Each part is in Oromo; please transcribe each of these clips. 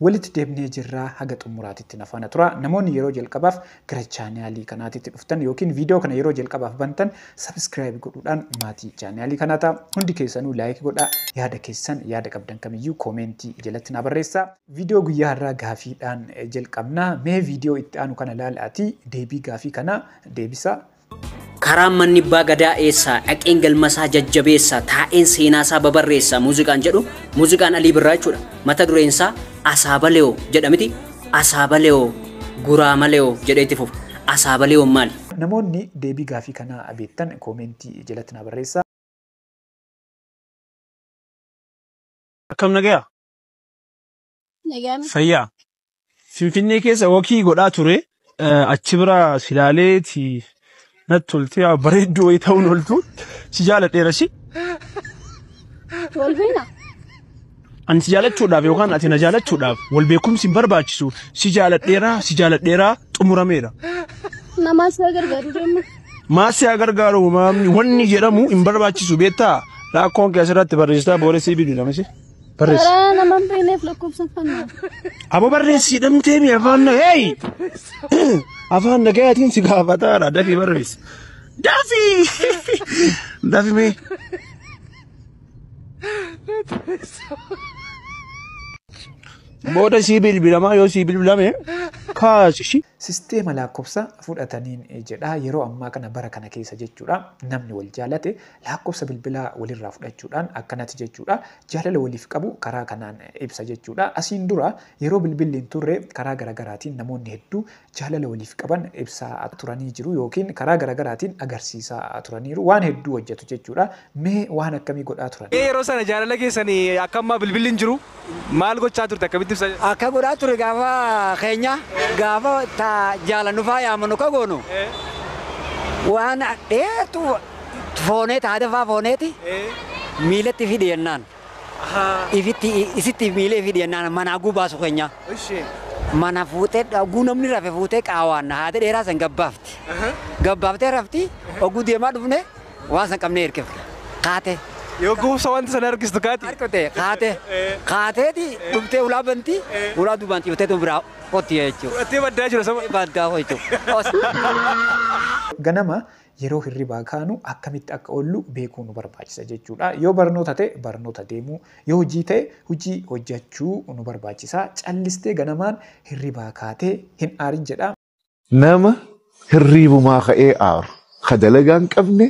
Walitti deebnee jirra haga xummuraatitti na faana turaa. Namoonni yeroo jalqabaaf gara chaanaalii kanaatitti dhuftan yookiin viidiyoo kana yeroo jalqabaaf bantan subscribe godhuudhaan maatii chaanaalii kanaa ta'a. Hundi keessanuu like godhaa. Yaada keessan yaada qabdan kamiyyuu koomeentii jalatti naa barreessaa. Viidiyoo guyyaa har'aa gaafiidhaan jalqabna. Mee viidiyoo itti aanu kana laalaatii deebii gaafii kanaa deebisaa. Karaan manni abbaa gadaa eessaa dhaqeen galmasaa jajjabeessa taa'een seenaasaa babarreessa muuziqaan jedhu muuziqaan Alii Birraa jechuudha. Mata dureensaa Asaabalewoo jedha miti Asaabalewoo Guraamalewoo jedhee itti fufa. Asaabalewoon maali? Namoonni deebii gaafii kanaa beektan koomeentii jalatti naa barreessaa. Akkam nagaya? Nagaan Fayyaa. Finfinnee keessa wakii godhaa ture. Eh, Achi bira si ilaaleeti natti toltee yaa bareedduu wayii ta'uun oltu si jaaladheera si. wal beena. Ani si jaalachuudhaaf yookaan ati na jaalachuudhaaf wal beekumsi hin barbaachisu. Si jaaladheera si jaaladheera xumurameera. Namaa si gargaaru deemu. Maal si haa gargaaru maamni wanni jedhamu hin barbaachisu beektaa? Rakkoon kee asirratti barreessitaa booda si bilbilamisi. Barreessi. Karaa nama hin beekneef lakkoofsa fannaa. Abo barreessi hidhamtee mi afaan na hey! Afaan nagayaatiin si gaafataadha dafii barreessi. Dafii! Dafi mee. Booda sii bilbilamaa yoo sii bilbilame kaasi shi. Sisteema lakkoofsa fudhataniin jedha yeroo ammaa kana bara kana keessa jechuudha namni wal jaalate Laakkofsa bilbilaa walirraa fudhachuudhaan akkanati jechuudha. Jaalala waliif qabu karaa kanaan ibsa jechuudha. Asiin dura yeroo bilbilli hin turre karaa garagaraatiin namoonni hedduu jaalala waliif qaban ibsaa turanii jiru yookiin karaa garagaraatiin agarsiisaa turaniiru. Waan hedduu hojjatu jechuudha. Mee waan akkamii godhaa turan? Mee yeroo sana jaalala keessan akka ammaa bilbilli hin jiru. Maal gochaa turte akkamitti ibsa? Akka godhaa ture gaafa keenya gaafa ta jaalannu faa yaamanu ka goonu waan dheertu foonee ta hada faa fooneeti miilatti fi dhiyennaan ifitti isitti miilee fi dhiyennaan manaa guu baasu keenya mana fuutee dhaguu namni rafe fuutee qaawaan haada dheeraa san gabbaafti gabbaaftee rafti oguu deemaa dhufne Waan san qabnee hirkifna. Kaatee. Yoo gowwomsa wanta sana argistu kaati. Harkifte kaatee. Kaateeti dhumtee ulaa banti. Ulaa duubaan ciifteetu biraa qotti jechuudha. Fudhattee baddaa jira sama. Baddaa hoo jechuudha. Ganama yeroo hirribaa kaanu akkamitti akka oollu beekuu nu barbaachisa jechuudha. Yoo barnoota ta'e barnoota deemuu, yoo hojii ta'e hojii hojjachuu nu barbaachisa. Callistee ganamaan hirribaa kaatee hin aarin jedha. nama hirriibumaa ka'ee aaru ka dalagaa hin qabne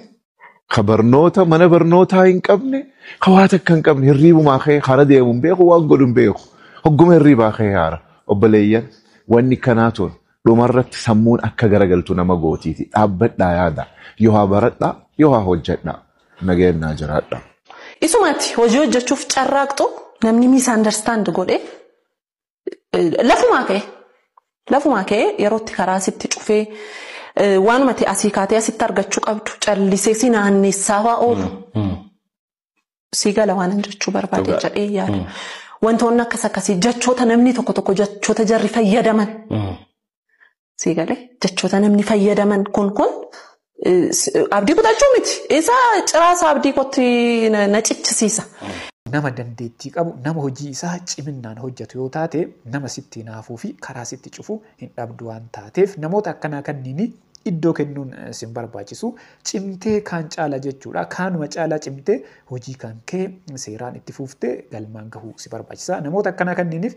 ka barnoota mana barnootaa hin qabne ka waa takka hin qabne hirriibumaa ka'ee kara deemu hin beeku waan godhu hin beeku hogguma hirriibaa ka'ee aara obboleeyyan wanni kanaa tun dhumarratti sammuun akka garagaltu nama gootiiti dhaabbadhaa yaada yoo haa baradhaa yoo haa hojjedhaa nagayaan naa jiraadhaa. Isumatti hojii hojjechuuf carraaqxu namni misunderstand godhe Lafumaa ka'e. Lafumaa ka'e yerootti karaa sitti cufee waanuma ta'e asii kaatee asitti argachuu qabdu callisee si naannessaa waa oolu. Sii gala waanan jechuu barbaade jedhee yaada. Wantoonni akkas akkasii jechoota namni tokko tokko jechoota jarri fayyadaman. Sii galee jechoota namni fayyadaman kun kun abdii kutachuu miti. Isa ciraasa abdii kotti na cichisiisa. Nama dandeettii qabu, nama hojii isaa ciminnaan hojjetu yoo taate, nama sitti hinaafuu fi karaa sitti cufu hin dhabdu waan taateef namoota akkanaa kanniinii iddoo kennuun sin barbaachisu. Cimtee kaan caala jechuudha. Kaanuma caalaa cimtee hojii kan kee seeraan itti fuuftee galmaan gahuu si barbaachisa. Namoota akkanaa kanniiniif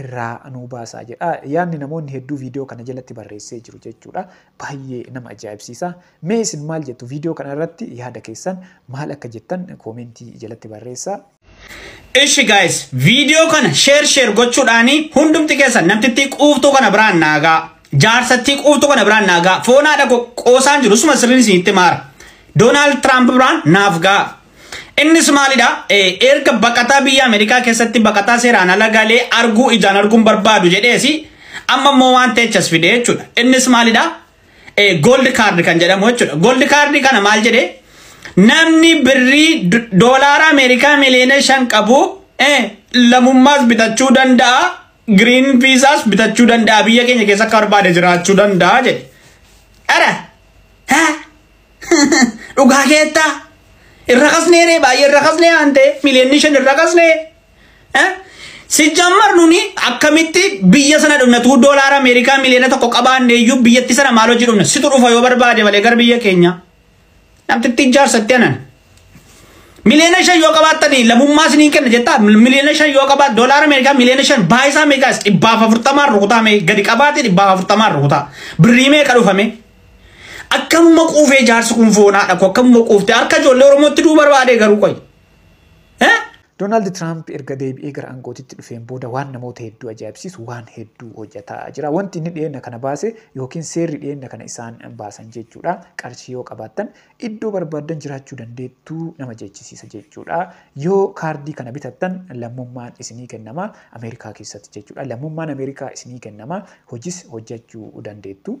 irraa nuu baasaa jedha. Yaadni namoonni hedduu viidiyoo kana jalatti barreessee jiru jechuudha. Baay'ee nama ajaa'ibsiisa. Mee isin maal jettu viidiyoo kana irratti yaada keessan maal akka jettan koomentii jalatti barreessaa. Ishi guys viidiyoo kana share share gochuudhaani hundumti keessan namtittii quuftuu kana biraan naagaa jaarsattii quuftuu kana biraan naagaa foonaa dhaqu qoosaan jiru suma sirriin isinitti maara Doonaald Tiraamp biraan naaf gaa. Innis maalidha? Erga baqataa biyya Ameerikaa keessatti baqataa seeraan ala galee arguu ijaan arguun barbaadu jedheesi amma immoo waan teechas fide jechuudha. Innis maalidha? Gold card kan jedhamu jechuudha. Gold card kana maal jedhee? Namni birrii doolaara Ameerikaa miliyoona shan qabu lammummaas bitachuu danda'a. Giriin viizaas bitachuu danda'a. Biyya keenya keessa akka barbaade jiraachuu danda'a jedhe. Ara! Haa! Dhugaa keettaa irra kasnee ree baay'ee irra kasnee aantee miliyoonni shan irra kasnee. Sijjammar nuni akkamitti biyya sana dhumna tuu doolaara Ameerikaa miliyoona tokko qabaanne iyyuu biyyatti sana maal hojii dhumna situ dhufa yoo barbaade malee gara biyya keenya. Namtitti ijaarsatti anan. Miliyoona shan yoo qabaattanii lammummaa isiniin kenna jettaa miliyoona shan yoo qabaat doolaara Ameerikaa miliyoona shan baayisaa meeqaas dhibbaaf afurtamaan rukutaa mee gadi qabaate dhibbaaf afurtamaan rukutaa birrii meeqa dhufame. Akkamuma quufee jaarsi kun foonaa dhaqu akkamuma quufte harka ijoollee Oromootti duu barbaadee garuu qoy. Doonaald Tiraamp erga deebi'ee gara aangootitti dhufeen booda waan namoota hedduu ajaa'ibsiisu waan hedduu hojjetaa jira. Wanti inni dhiyeenya kana baase yookiin seerri dhiyeenya kana isaan baasan jechuudha. Qarshii yoo qabaattan iddoo barbaaddan jiraachuu dandeettu nama jechisiisa jechuudha. Yoo kaardii kana bitattan lammummaan isinii kennama Ameerikaa keessatti jechuudha. Lammummaan Ameerikaa isinii kennama hojis hojjechuu dandeettu.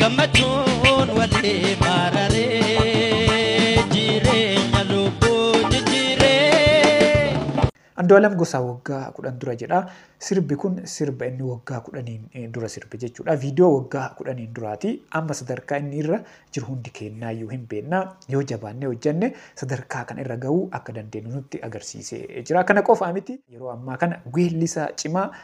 gammachuun walii maararee jireenya lubbuu jijjiiree. Andu'aalam Gosaa waggaa kudhan dura jedha. Sirbi kun sirba inni waggaa kudhaniin eh, dura sirbe jechuudha. Viidiyoo waggaa kudhaniin duraati. Amma sadarkaa inni irra jiru hundi keennaayyuu hin beekna. Yoo jabaannee hojjenne sadarkaa kan irra gahuu akka dandeenyu nutti agarsiisee jira. Kana qofaa miti yeroo ammaa kana weellisaa cimaa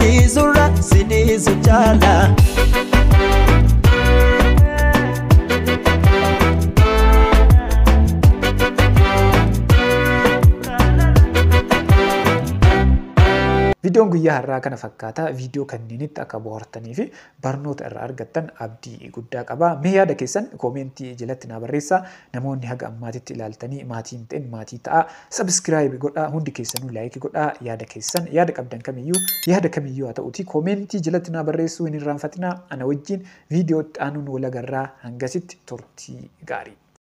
Dhiisurra si dhiisu caala. Viidiyoon guyyaa har'aa kana fakkaata. Viidiyoo kanneenitti akka bohaartanii fi barnoota irraa argattan abdii guddaa qaba. Mee yaada keessan koomeentii jalatti naa barreessaa. Namoonni haga ammaatitti ilaaltanii maatii hin ta'in maatii ta'aa. Sabiskiraayibi godhaa. Hundi keessanuu laayiki godhaa. Yaada keessan yaada qabdan kamiyyuu yaada kamiyyuu haa ta'uutii koomeentii jalatti naa barreessuu hin irraanfatinaa. Ana wajjiin viidiyoo itti aanuun wal agarraa. Hangasitti turtii gaarii.